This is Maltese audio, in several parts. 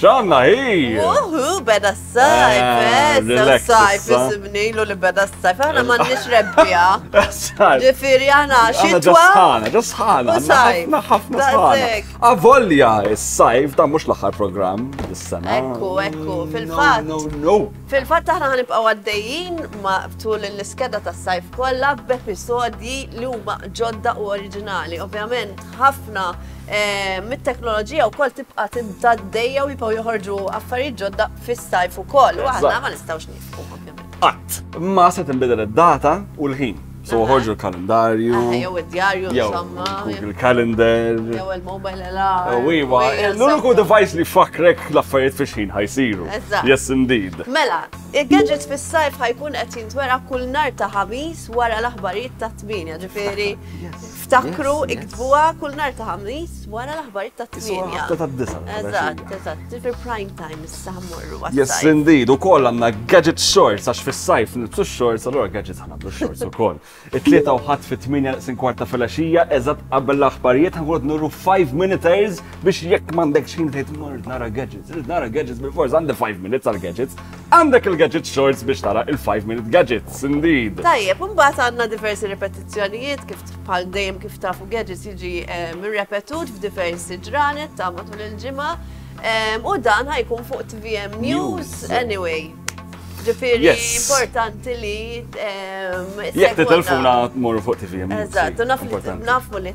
ċanna hi! Uhu, beda s-sajf, eh, eh s-sajf, isimni l li beda s-sajf, għana eh, mannix rebbija. Ġifiri għana, xitwa? Ġasħana, ġasħana, ħafna ħafna ħafna. Avolja s-sajf, da mux l-axar program, s-sena. Ekku, ekku, fil-fat. No, no, Fil-fat taħna ħanibqa għaddejjin ma tul l-iskeda tas-sajf kolla b'episodi li huma ġodda u oriġinali, ovvjament. ħafna eh, mit-teknoloġija u kol tibqa tibda d-dejja u jipaw joħorġu affarijiet ġodda fis-sajf u kol. U għadna ma nistawx nifqu. Qatt, ma se tinbidel id-data u l-ħin. So ħorġu l-kalendarju. Jew id-djarju, insomma. Google Calendar. Jew il-mobile alarm. Oh, iwa, l-uniku device li fakrek l-affarijiet fiex ħin ħajsiru. Yes, indeed. Mela, il-gadgets fis-sajf ħajkun qed jintwera kull nar ta' ħamis wara l-aħbarijiet ta' tminja, ġifieri. Ftakru iktbuha kull nar ta' ħamis wara l-aħbarijiet ta' tmienja. Ta' disa. Eżatt, eżatt, fil prime time issa ħammorru. Yes, indeed, ukoll għandna gadget shorts għax fis-sajf nitsu shorts, allura gadgets ħana blu shorts ukoll. It-tlieta u ħadd fit-tmienja sin kwarta fil-għaxija, eżatt qabel l-aħbarijiet ħankun nurru 5 minuters biex jekk m'għandekx ħin tgħid nara gadgets, nara gadgets bil-forza għandi 5 minutes għal gadgets. Għandek il-gadget shorts biex tara il-5 minute gadgets, indeed. Tajjeb, mbagħad għandna diversi ripetizzjonijiet kif bħal dejjem kif tafu gadgets jiġi ehm, repetut f'diversi ġranet ta' matul il-ġimgħa. Ehm, u dan ħajkun fuq TVM News anyway. Ġifieri importanti li. Ehm, Jekk titilfuna tmur fuq TVM News. Eżatt, nafmu li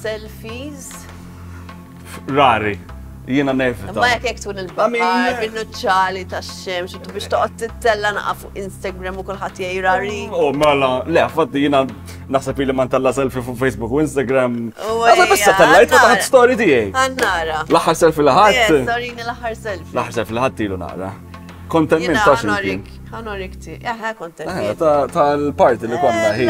Selfies. Rari. Jiena nevita. Ma jekk jekk tkun il-bahar, bin-nuċċali tax-xemx, u biex toqgħod tittella naqa' fuq Instagram u kulħadd jgħid rari. Oh, mela, le, fatti jiena naħseb li ma ntella selfie fuq Facebook u Instagram. Għazza bissa tellajt fuq taħt story tiegħi. Għannara. L-aħħar selfie li ħadd. Storini l-aħħar selfie. L-aħħar selfie li ħadd ilu nara. Kontent minn ta' ximkien. Honor ikti, eħe kontent. Eh, Tal-parti li konna eh, ħi.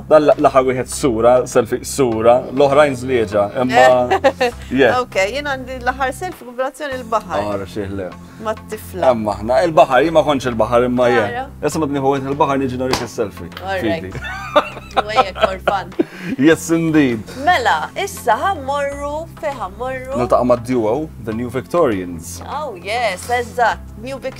Dan laħa wieħed sura, selfie sura, l-oħrajn zlieġa, imma. Eh. Ok, jien għandi laħar selfie kublazzjoni l-bahar. Għara ah, xieħle. Ma t-tifla. Imma ħna, il-bahar, jima konċ il-bahar imma jien. Issa ma t-niħu il-bahar niġi norik il-selfie. Alright. Wejek, orfan. Yes, indeed. Mela, issa ħammorru, feħammorru. Niltaqa ma d-duo, The New Victorians. Oh, yes, eżat, New Victorians.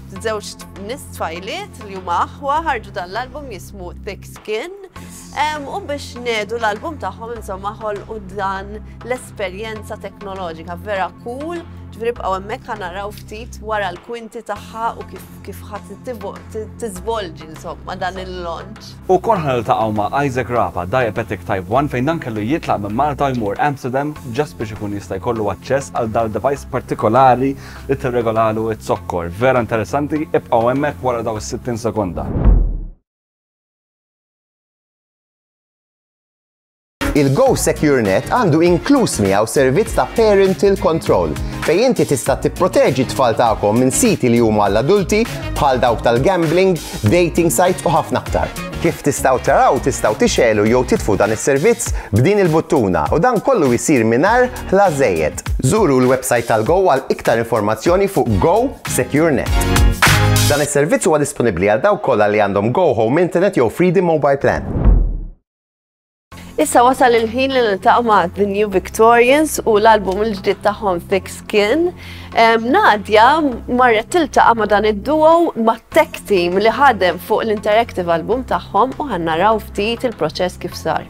Żewġ nist tfajliet li huma aħwa ħarġu dan l-album jismu Thick Skin u biex nedu l-album tagħhom insomma u dan l-esperjenza teknoloġika vera cool ġifieri bqgħu hemmhekk ħanaraw ftit wara l-kwinti tagħha u kif kif ħadd tiżvolġi insomma dan il-launch. U kol ħaniltaqgħu ma' Isaac Rapa, diabetic type 1 fejn dan kellu jitlaq minn Malta jmur Amsterdam ġast biex ikun jista' jkollu aċċess għal dal-device partikolari li tirregolalu z-zokkor. Vera interessanti, ibqgħu hemmhekk wara daw is-60 sekonda. Il-Go Secure Net għandu inkluż miegħu servizz ta' parental control fej inti tista' tipproteġi t-tfal tagħkom minn siti li huma l-adulti bħal dawk tal-gambling, dating sites u ħafna aktar. Kif tistgħu taraw tistgħu tixelu jew titfu dan is-servizz b'din il-buttuna u dan kollu jsir mingħajr Ħlas żejjed. Żuru l-websajt tal-GO għal iktar informazzjoni fuq Go Secure Net. Dan is-servizz huwa disponibbli għal dawk kollha li għandhom Go Home Internet jew Freedom Mobile Plan. Issa wasal il-ħin li niltaqgħu ma' The New Victorians u l-album il-ġdid tagħhom Thick Skin. Nadja marret tiltaqa' ma' dan id-duo ma' tech team li ħadem fuq l-interactive album tagħhom u ħannaraw ftit il-proċess kif sar.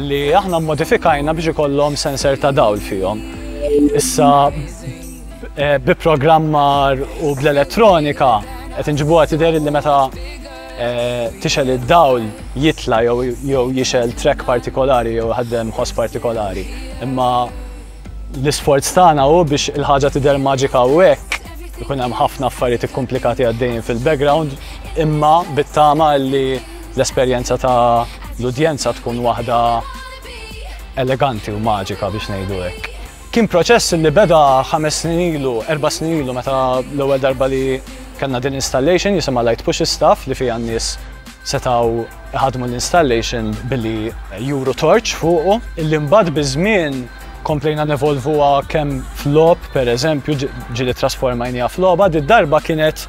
li aħna mmodifikajna biex ikollhom sensor ta' dawl fihom. Issa eh, bi programmar u bl-elettronika qed inġibuha tidher li meta eh, tixel id-dawl jitla jew jixel trek partikolari jew ħaddem ħoss partikolari. Imma l-isforz tagħna hu biex il-ħaġa tidher maġika u hekk ikun hemm ħafna affarijiet ikkomplikati għaddejjin fil-background imma bit-tama li l-esperjenza ta' l-udjenza tkun waħda eleganti u maġika biex ngħidu hekk. Kien proċess li beda ħames snin ilu, erba snin ilu meta l-ewwel darba li kellna din installation jisimha Light Push Staff li fija n-nies setaw ħadmu l-installation billi juru torċ fuqu. Illi mbagħad biż-żmien komplejna nevolvuha kemm flop, per eżempju, ġili trasformajnija floba, di darba kienet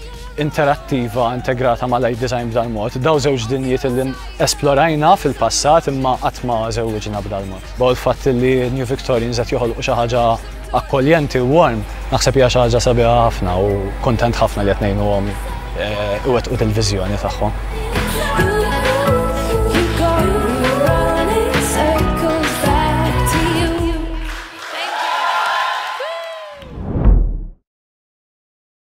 interattiva integrata ma' light design b'dal mod. Daw żewġ dinjiet li esplorajna fil-passat imma qatt ma żewġna b'dal mod. Baw il-fatt li New Victorians qed joħolqu xi ħaġa akkoljenti u warm, naħseb hija xi ħaġa sabiħa ħafna u kuntent ħafna li qed ngħinuhom eh, iwettqu dil-viżjoni tagħhom.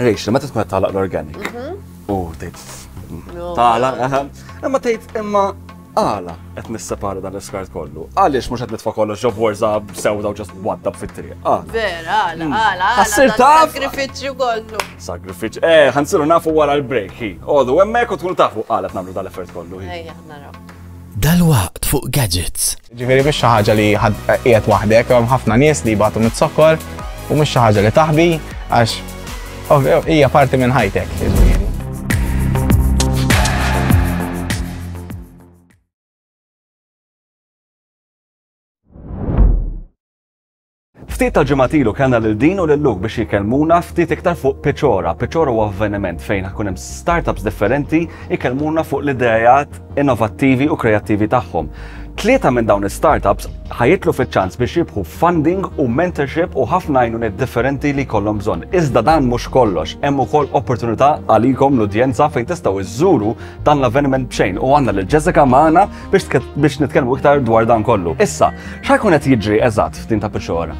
Rachel, meta tkun qed tagħlaq l-organic. Mhm. U tgħid tagħlaq, ehm, imma tgħid imma għala qed nissepara dan l-iskart kollu. Għaliex mhux qed nitfa' kollox ġo borza sewda u ġast waddab fit-triq. Ah. Vera, għala, hmm. għala. Għassir taf. Sagrifiċċju kollu. Sagrifiċċju. Eh, ħansiru nafu wara l-break. Għodu, hemmhekk u tkun tafu għala tnamlu dal-effert kollu. Ejja, naraw. Dalwaqt fuq gadgets. Jiġifieri mhix xi ħaġa li qiegħed waħdek, hemm ħafna nies li jbatu miz-zokkor u mhix xi ħaġa li taħbi għax hija parti minn ħajtek. Jiġifieri. Ftit tal-ġimgħat ilu kellna lil Dean u lil Luke biex jikellmuna ftit iktar fuq Piċora. Piċora huwa avveniment fejn ħakun hemm startups differenti jkellmuna fuq l-idejat innovattivi u kreattivi tagħhom. Tlieta minn dawn is-startups ħajitlu fiċ-ċans biex jibħu funding u mentorship u ħafna għajnuniet differenti li jkollhom bżonn. Iżda dan mhux kollox, hemm ukoll opportunità għalikom l-udjenza fejn tistgħu żżuru dan l-avveniment b'xejn u għandna lil Jessica magħna biex nitkellmu iktar dwar dan kollu. Issa, x'ħajkun qed jiġri eżatt f'din ta' pixora?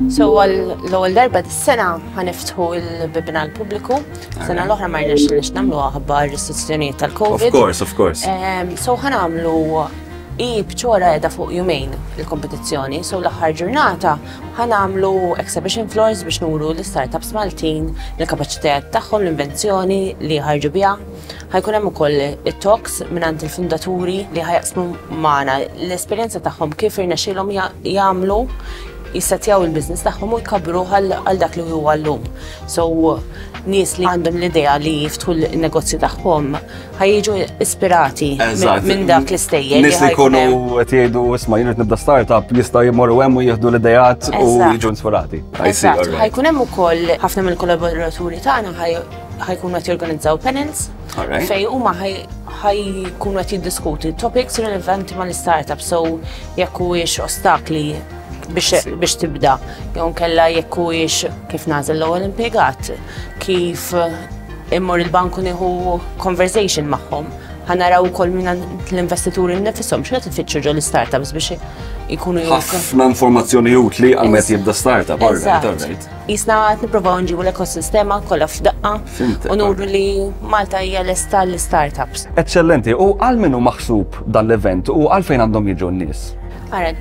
So l-ewwel darba dis-sena ħaniftħu l-bibna l-pubbliku, sena l-oħra ma rnex li nagħmlu aħba restrizzjonijiet tal-COVID. Of course, of course. Ehm, so ħanamlu i bċora edha fuq jumejn il-kompetizzjoni, so l-aħħar ġurnata ħanamlu exhibition floors biex nuru l-startups Maltin, l-kapacitet tagħhom, l-invenzjoni li ħarġu biha. Ħa jkun hemm ukoll it-talks mingħand il-fundaturi li ħa jaqsmu magħna l-esperjenza tagħhom kif irnexxielhom jagħmlu jissettjaw il-business tagħhom u jkabbru għal dak li huwa llum. So nies li għandhom l-idea li jiftħu l-negozju tagħhom ħajġu ispirati minn dak l-istejjer. Nies li jkunu qed jgħidu isma' jien nibda startup jista' jmorru hemm u jieħdu l-idejat u jiġu inspirati. Ħajkun hemm ukoll ħafna mill-kollaboraturi tagħna ħajkunu qed jorganizzaw panels fej huma ħajkunu qed jiddiskuti topics relevanti mal-istartup so jekk huwiex ostakli biex tibda jew nkella jekk huwiex kif nażel l-ewwel impjegat kif immur il-banku nieħu conversation magħhom ħanaraw ukoll minn l-investituri nifishom x'qed ifittxu ġol startups biex ikunu ħafna informazzjoni utli għal meta jibda startup, all right, all right. Qisna qed nipprovaw nġibu l-ekosistema kollha f'daqqa u nuru li Malta hija lesta għall-startups. Eċċellenti. U għal min hu maħsub dan l-event u għalfejn għandhom jiġu n-nies? Ara,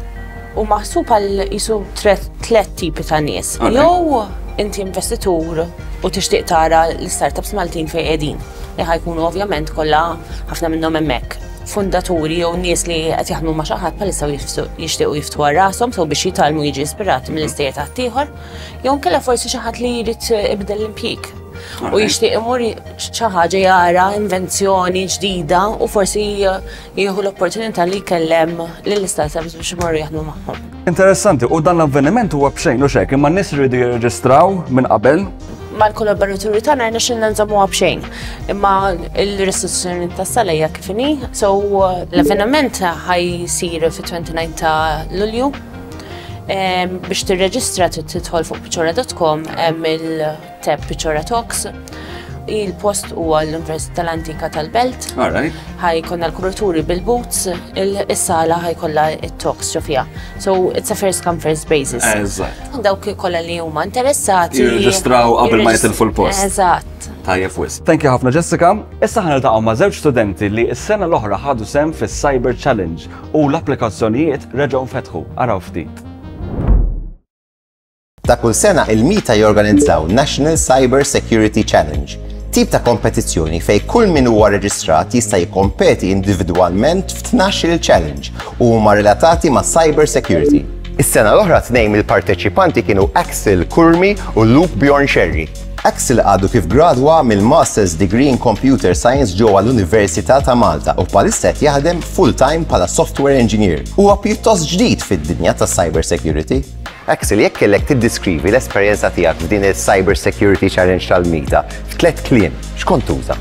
hu maħsub għal qisu tliet tipi ta' nies. Jew inti investitur u tixtieq tara l-startups Maltin fejn qegħdin, li ħa jkunu ovvjament kollha ħafna minnhom hemmhekk. fundaturi jew nies li qed jaħdmu ma' xi ħadd bħalissa jixtiequ jiftħu għal rashom sew biex jitgħallmu jiġi ispirati mill-istejjer ta' ħaddieħor, jew nkella forsi xi ħadd li jrid ibdel l-impjieg. U jixtieq imur xi ħaġa jara invenzjoni ġdida u forsi jieħu l-opportunità li jkellem lill-istat biex imorru jaħdmu magħhom. Interessanti, u dan l-avveniment huwa b'xejn u xejn, imma n-nies iridu jirreġistraw minn qabel. Mal-kollaboraturi tagħna rna xinna nżammuha b'xejn. Imma l-restituzzjoni tas-sala hija kif inhi, so l-avveniment ħajsir fit-29 ta' Lulju. Biex tirreġistra tidħol fuq piċora.com hemm il- Tep Pichora Talks. Il-post huwa l-Università tal-Antika tal-Belt. Alright. Ħajkonna l-kuraturi bil-boots, il-sala ħajkolla il-talks ġofija. So, it's a first come first basis. Eżatt. Dawk kolla li huma interessati. Jirreġistraw qabel ma jitilfu l-post. Eżatt. Tajjeb wis. Thank you ħafna Jessica. Issa ħana taqgħu ma' żewġ studenti li s-sena l-oħra ħadu sem fis-Cyber Challenge u l-applikazzjonijiet reġgħu fetħu. Araw ftit. Ta' kull sena il-MITA jorganizzaw National Cyber Security Challenge, tip ta' kompetizzjoni fejn kull min huwa reġistrat jista' jikkompeti individwalment f'tnax-il challenge u huma relatati ma' cyber security. Is-sena l-oħra tnejn mill-parteċipanti kienu Axel Kurmi u Luke Bjorn Xerri. Axel għadu kif gradwa mill-Master's Degree in Computer Science ġewwa l-Università ta' Malta u bħalissa qed jaħdem full-time bħala software engineer. Huwa pjuttost ġdid fid-dinja tas-cyber security. Axel, jekk kellek tiddiskrivi l-esperjenza tiegħek f'din il-Cyber Security Challenge tal-MIDA f'tliet kliem, x'kont tuża?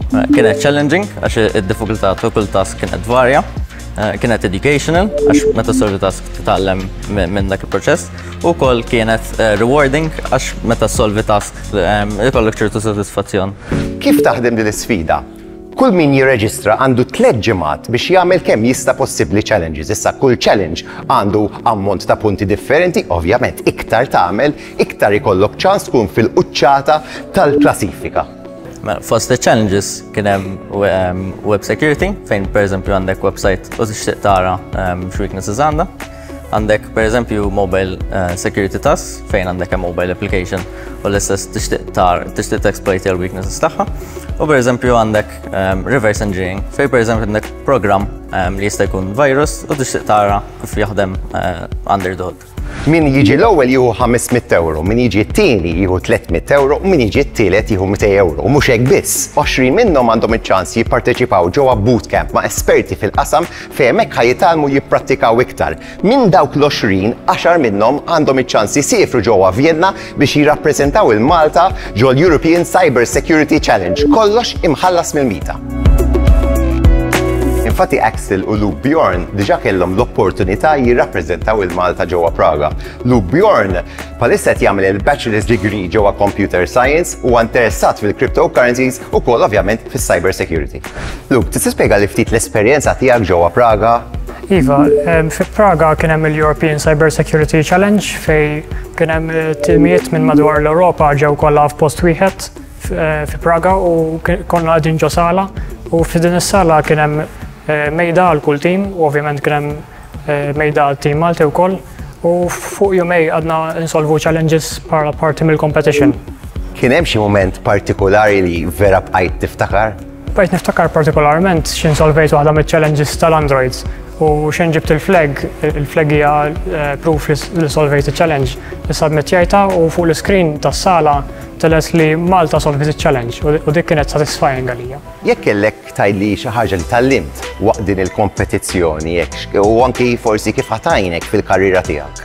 Eh, kienet challenging, għax id-diffikultà ta' kull task kienet varja. Eh, kienet educational, għax meta solvi task titgħallem minn dak il-proċess. U kol kienet eh, rewarding, għax meta solvi task ikollok ċertu soddisfazzjon. Kif taħdem din is-sfida? Kull min jirreġistra għandu tliet ġimgħat biex jagħmel kemm jista' possibbli challenges. Issa kull challenge għandu ammont ta' punti differenti, ovvjament iktar tagħmel, iktar ikollok ċans tkun fil-quċċata tal-klasifika. Mela, fost il-challenges kien hemm web security, fejn pereżempju għandek website u tixtieq tara x'weaknesses għandha. Għandek per eżempju mobile eh, security task fejn għandek mobile application u l-istess tixtieq tar tixtieq exploit il weaknesses tagħha. U per eżempju għandek ehm, reverse engineering fejn per eżempju għandek program ehm, li jista' jkun virus u tixtieq tara kif jaħdem eh, under the hood. Min jiġi l-ewwel jieħu 500 euro, min jiġi t-tieni jieħu 300 euro, u min jiġi t-tielet jieħu 200 euro. U mhux hekk biss, 20 minnhom għandhom iċ-ċans jipparteċipaw ġewwa bootcamp ma' esperti fil-qasam Fejn hekk ħa jitgħallmu jipprattikaw iktar. Minn dawk l-għoxrin, għaxar minnhom għandhom iċ-ċans isiefru ġewwa Vjenna biex jirrappreżentaw 'il Malta ġol-European Cyber Security Challenge, kollox imħallas mill-Mita. Infatti Axel u Luke Bjorn diġa kellhom l-opportunità jirrappreżentaw il-Malta ġewwa Praga. Luke Bjorn palissa qed jagħmel il-Bachelor's Degree ġewwa Computer Science u interessat fil-cryptocurrencies Ukoll ovvjament fis-cyber security. Luke, tista' spjega li ftit l-esperjenza tiegħek ġewwa Praga? Iva, fi Praga kien hemm il-European Cyber Security Challenge fej kien hemm tilmiet minn madwar l-Ewropa ġew kollha f'post wieħed fi Praga u konna qegħdin ġo sala u fi din is-sala kien hemm mejda għal kull tim u ovvjament kien hemm Eh, mejda għal team Malti wkoll u fuq jumej għadna insolvu challenges para parti mill-competition. Kien hemm xi moment partikolari li vera bqajt tiftakar? Bqajt niftakar partikolarment x'in solvejt waħda mill-challenges tal-Androids u x'in ġibt il-flag, il-flag hija eh, proof li solvejt il-challenge. Issa admettjajta u fuq l-screen tas-sala teles li Malta solvejt il-challenge u dik kienet satisfying għalija. Jekk kellek Tgħidli xi ħaġa li tgħallimt waqt din il-kompetizzjoni u anki forsi kif ħa tgħinek fil-karriera tiegħek?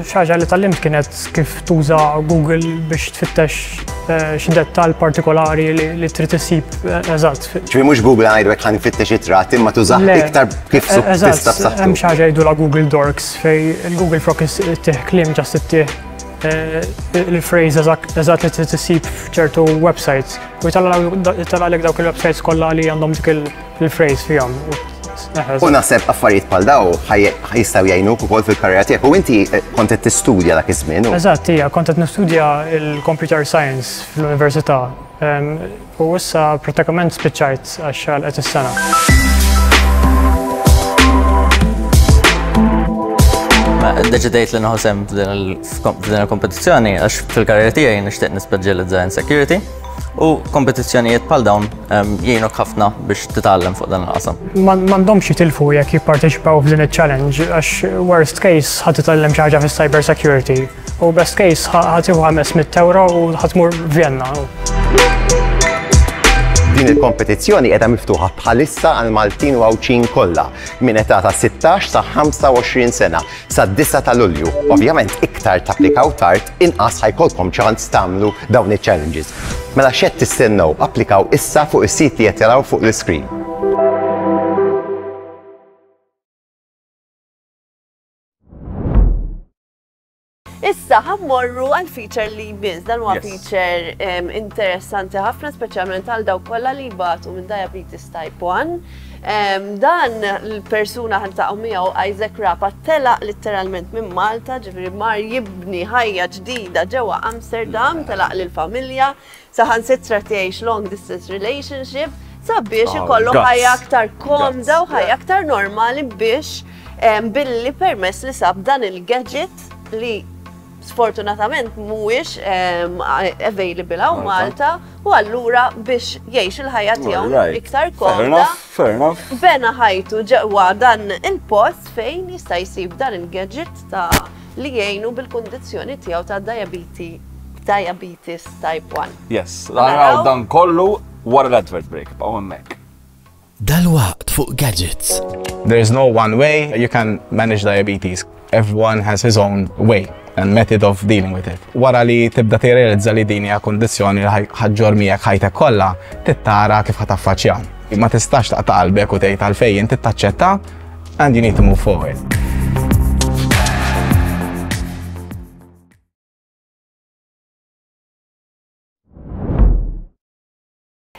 Xi ħaġa li tgħallimt kienet kif tuża Google biex tfittex eh, xi dettall partikolari li trid issib eh, eżatt. Ġifi mhux Google għajdwek ħan fittex it-trat imma tuża iktar kif eh, tista' b'saħħtu. Hemm xi ħaġa jgħidu la Google Dorks fej il-Google Frog ittih kliem ġast ittih il-phrase eżatt li trid issib f'ċertu websites. U jitallaqlek dawk il-websites kollha li għandhom dik il-phrase fihom. U naħseb affarijiet bħal daw jistgħu jgħinuk ukoll fil-karriera tiegħek u inti eh, kont qed tistudja dak iż-żmien. Eżatt, hija kont qed nistudja il-computer science fl-università. U issa pratikament spiċċajt għax għalqet is-sena. deċidejt li nħosem f'din il-kompetizzjoni għax fil-karriera tiegħi nixtieq nispeċjalizza in security u kompetizzjonijiet bħal dawn ehm, jgħinok ħafna biex titgħallem fuq dan il-qasam. M'għandhomx jitilfu jekk jipparteċipaw f'din iċ-challenge għax worst case ħadd titgħallem xi ħaġa fis-cyber security. U best case ħa tieħu 500 euro u ħa tmur Vienna. Din il-kompetizzjoni qiegħda miftuħa bħalissa għal Maltin u Għawdxin kollha minn età ta' 16 sa 25 sena sa 9 ta' Lulju. Ovvjament iktar tapplikaw tard inqas ħajkolkom ċans tagħmlu dawn iċ-challenges. Mela xed tistennew applikaw issa fuq is-sit li qed taraw fuq l-iskrin. Issa, ħammorru għal feature li jmiss, dan huwa feature interessanti ħafna, speċjalment għal daw kollha li jbatu minn diabetes type 1. Dan l-persuna ħan taqgħu miegħu Isaac Rapa telaq litteralment minn Malta, ġifieri mar jibni ħajja ġdida ġewwa Amsterdam, telaq lill-familja, Saħansitra tgħix long distance relationship sabiex ah, ikollok ħajja aktar komda u ħajja aktar normali biex billi permess li sab dan il-gadget li sfortunatament mhuwiex available hawn Malta u allura biex jgħix il-ħajja tiegħu iktar komda. Fair enough. Bena ħajtu ġewwa dan il-post fejn jista' jsib dan il-gadget ta' li jgħinu bil-kundizzjoni tiegħu ta' dajabiti diabetes type 1. Yes, naraw dan kollu wara l-advert break, b'għu hemmhekk. Dal-waqt fuq gadgets. There is no one way you can manage diabetes. Everyone has his own way and method of dealing with it. Wara li tibda tirrealizza li din hija kondizzjoni li ħaġġor miegħek ħajtek kollha, tittara kif ħataffaċċja. Ma tistax taqta' qalbek u tgħid għalfejn inti taċċetta And you need to move forward.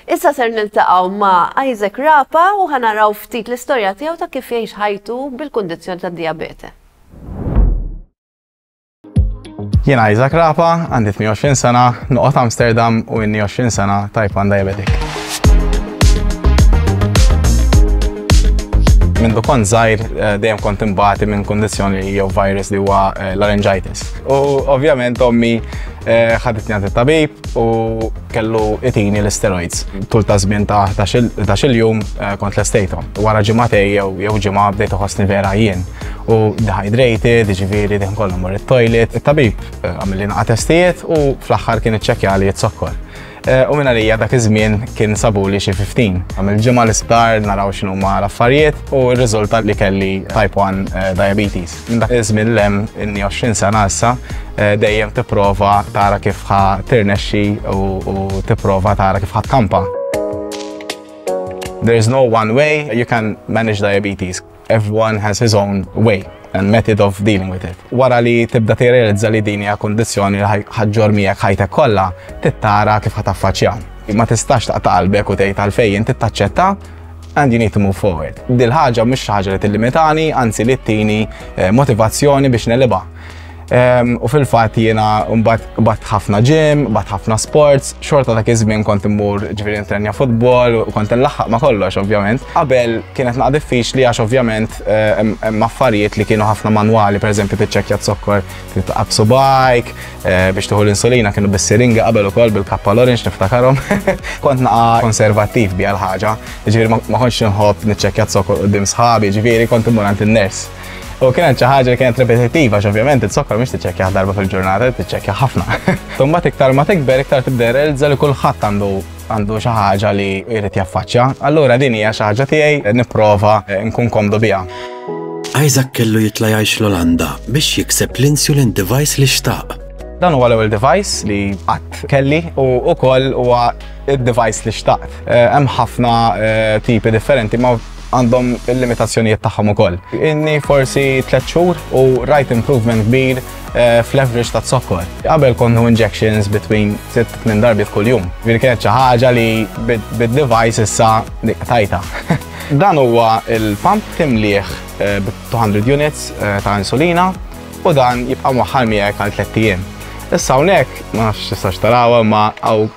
Issa ser niltaqgħu ma' Isaac Rapa u ħanaraw ftit l-istorja tiegħu ta' kif jgħix ħajtu bil-kundizzjoni tad-diabete. Jien Isaac Rapa, għandi 28 sena, noqgħod Amsterdam u inni 20 sena type 1 diabetic. Minn dukon zaħir eh, dejjem kont imbati minn kondizjoni jew virus li huwa eh, laryngitis. U ovvjament ommi eh, ħaditni għand it-tabib u kellu itini l-steroids. Tul ta' żmien ta' ta' xil-jum kont l-estejtom. Wara ġimgħatej jew ġimgħa bdejt uħosni vera jien. u dehydrated, ġifieri din kollu mor it-toilet, it-tabib eh, għamil li testijiet u fl-aħħar kien iċċekkja li jitzokkor. Eh, u minna lija dak iż-żmien kien sabu li xi 15. Għam il-ġimgħa l-isptar naraw x'inhu ma l-affarijiet u r-riżultat li kelli type 1 eh, diabetes. Minn dak iż-żmien lem inni 20 sena issa eh, dejjem tipprova tara kif ħa tirnexxi u tipprova tara kif ħa tkampa. There is no one way you can manage diabetes. Everyone has his own way and method of dealing with it. Wara li tibda tirrealizza li din hija kondizzjoni li ħaġġor miegħek ħajtek kollha, tittara kif ħataffaċċja. Ma tistax taqta' qalbek u tgħid għalfejn inti taċċetta and you need to move forward. Dil ħaġa mhux ħaġa li tillimitani, anzi li tini eh, motivazzjoni biex neliba. Ehm, u fil-fatt jiena mbagħad bat ħafna gym, bat ħafna sports, xorta dak iż-żmien kont immur ġifieri nitrenja futbol u kont inlaħħaq ma' kollox ovvjament. Qabel kienet naqa' diffiċli għax ovvjament eh, hemm affarijiet li kienu ħafna manwali, pereżempju tiċċekkja zokkor titqab subajk eh, biex tuħu l-insulina kienu bis-siringa qabel ukoll bil-kappa l-orange niftakarhom. Kont naqa' konservattiv biha l-ħaġa, ġifieri ma kontx inħobb niċċekkja zokkor qudiem sħabi, ġifieri kont immur għand in-ners. U kienet xi ħaġa li kienet repetittiva, x'ovvjament it-sokkor mhix tiċċekkja darba fil-ġurnata, tiċċekkja ħafna. Tumma iktar ma tikber iktar tibda realizza li kulħadd għandu għandu xi ħaġa li jrid jaffaċċja. Allura din hija xi ħaġa tiegħi nipprova eh, nkun komdu biha. Isaac kellu jitla' jgħix l-Olanda biex jikseb l-insulin device li xtaq. Dan huwa l-ewwel device li qatt kelli u wkoll huwa id-device li xtaqt. Eh, hemm ħafna eh, tipi differenti, ma għandhom il-limitazzjonijiet tagħhom ukoll. Inni forsi tliet xhur u rajt improvement kbir eh, fl-average ta' zokkor. Qabel konnu injections between 6-8 darbi f'kull jum. Vir kienet xi ħaġa li bid-device issa tajta. Dan huwa il-pump timliħ eh, b 200 units eh, ta' insulina u dan jibqa' moħħal miegħek għal 3 ijiem. Issa hawnhekk ma nafx tistax tarawha ma hawn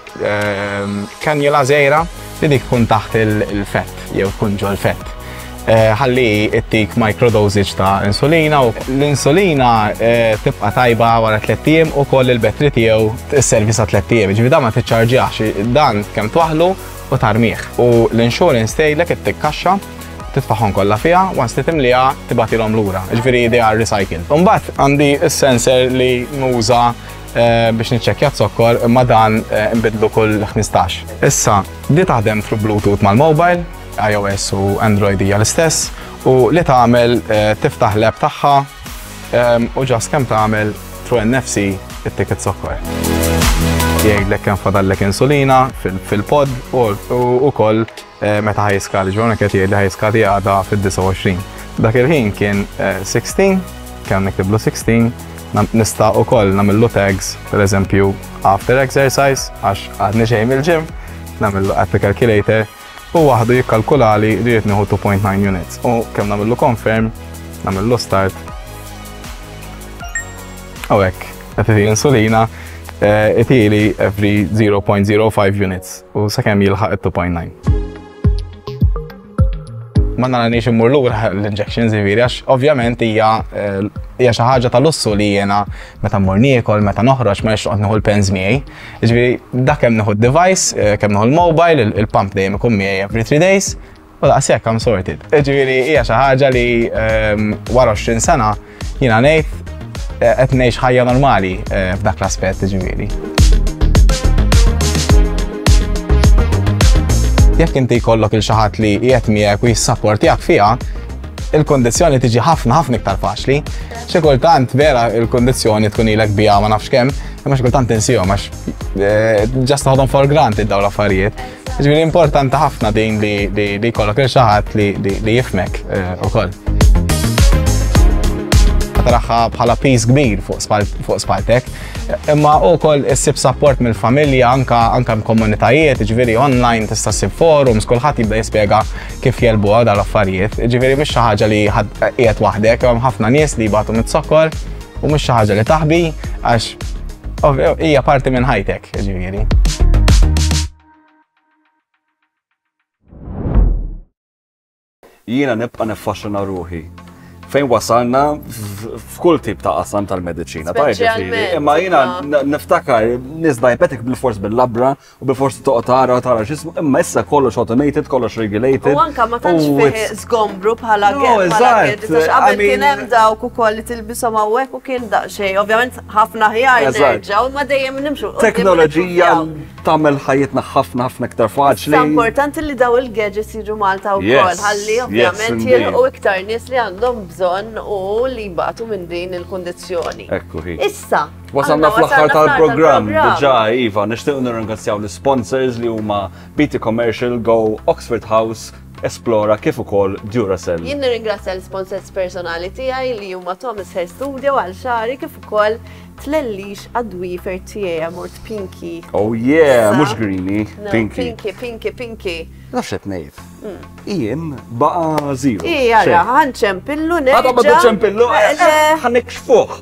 Kanjula żgħira li dik tkun taħt il-fett jew tkun ġol fett. Eh, ħalli ittik microdosage ta' insulina u l-insulina eh, tibqa' tajba wara tliet ijiem u koll il-betri tiegħu s-servi sa tliet ijiem. Ġifieri dan ma tiċċarġjax dan kemm twaħlu u tarmiħ. U l-insurance tgħidlek ittikkaxxa titfaħħom kollha fiha, once li timliha tibatilhom lura. Ġifieri they are recycled. Imbagħad għandi s-sensor li nuża Eh, biex niċċekkja zokkor ma dan eh, nbidlu kull 15. Issa, li taħdem fl Bluetooth mal-mobile, iOS u Android hija l-istess, u li tagħmel eh, tiftaħ l-app tagħha u ġas kemm tagħmel tru NFC it-ticket zokkor. Jgħidlek kemm fadallek insulina fil-pod u wkoll Meta ħa jiskadi, ġvona kħet jgħid li ħa jiskadi għada fil-29. Dak il-ħin kien 16, eh, kien niktiblu 16, nista u koll namillu tags, per eżempju, after exercise, għax għadni xejn mill-ġim, namillu app calculator, u waħdu jikkalkulali li jitniħu 2.9 units. U kem namillu confirm, namillu start. Għawek, għetiti insulina, eh, itili every 0.05 units. u sakemm jilħaq it-2.9. Ma naranix immur lura l-injections ġifieri għax ovvjament hija eh, hija xi ħaġa ta' lussu li jiena meta mmur niekol, meta noħroġ ma nixtieq nieħu l-pens miegħi. Ġifieri dak kemm nieħu d-device, eh, kemm nieħu l-mobile, il-pump dejjem ikun miegħi every three days, U daqs hekk I'm sorted. Ġifieri hija xi ħaġa li ehm, wara 20 sena jiena ngħid eh, qed ngħix ħajja normali eh, f'dak l-aspett ġifieri. Jekk inti jkollok il xi ħadd li qiegħed miegħek u jissapportjak fiha, il-kondizjoni tiġi ħafna ħafna iktar faċli. Xi kultant vera il-kondizjoni tkun ilek biha ma nafx kemm, imma xi kultant insihom għax eh, just ħodhom for granted dawn l-affarijiet. Ġifieri importanti ħafna din li li jkollok il xaħat li jifmek eh, ukoll. Taraħħa bħala pis kbir fuq spaltek, imma ukoll issib support mill-familja anka anka komunitajiet, ġifieri online tista' ssib forums, kulħadd jibda jispjega kif jelbuha dal-affarijiet. Ġifieri mhix xi ħaġa li qiegħed waħdek, hemm ħafna nies li jbatu mit-sokkor. U mhux xi ħaġa li taħbi għax hija parti minn ħajtek, ġifieri. jiena nibqa' niffaxxina ruħi fejn wasalna f'kull tip ta' qasam tal-medicina. Imma jiena niftakar nisbajbetek bil-fors bil-labra u bi forsi toqgħod tara u tara x'ismu, imma issa kollox automated, kollox regulated. U anka ma tantx fih żgombru bħala eżatt. Qabel kien hemm dawk ukoll li tilbishom hawnhekk u kien daqsxejn, ovvjament ħafna ħjar nerġgħu, ma dejjem nimxu. Teknoloġija tagħmel ħajjitna ħafna ħafna iktar faċli. Sa importanti li daw il-gadgets jiġu Malta wkoll, ħalli ovvjament jilqu iktar nies li għandhom bżonn u li jbatu minn din il-kundizzjoni. Issa, Wasalna fl-aħħar tal-programm diġà iva, nixtiequ nirringrazzjaw l-sponsors li huma BT Commercial, Go, Oxford House, Esplora kif ukoll Duracell. Jien nirringrazzja l-sponsors personali tiegħi li huma Thomas Hair Studio għal xari kif ukoll tlellix għad-dwifer tiegħi għamort Pinky. Oh yeah, mhux Greeny, Pinky. Pinky, Pinky, Pinky. Nafx qed ngħid. Mm. Ijiem baqa' zero. Ija, ħanċempillu nerġa'. Għadha ma tiċempillu, eh, eh, eh, ħanikxfuh.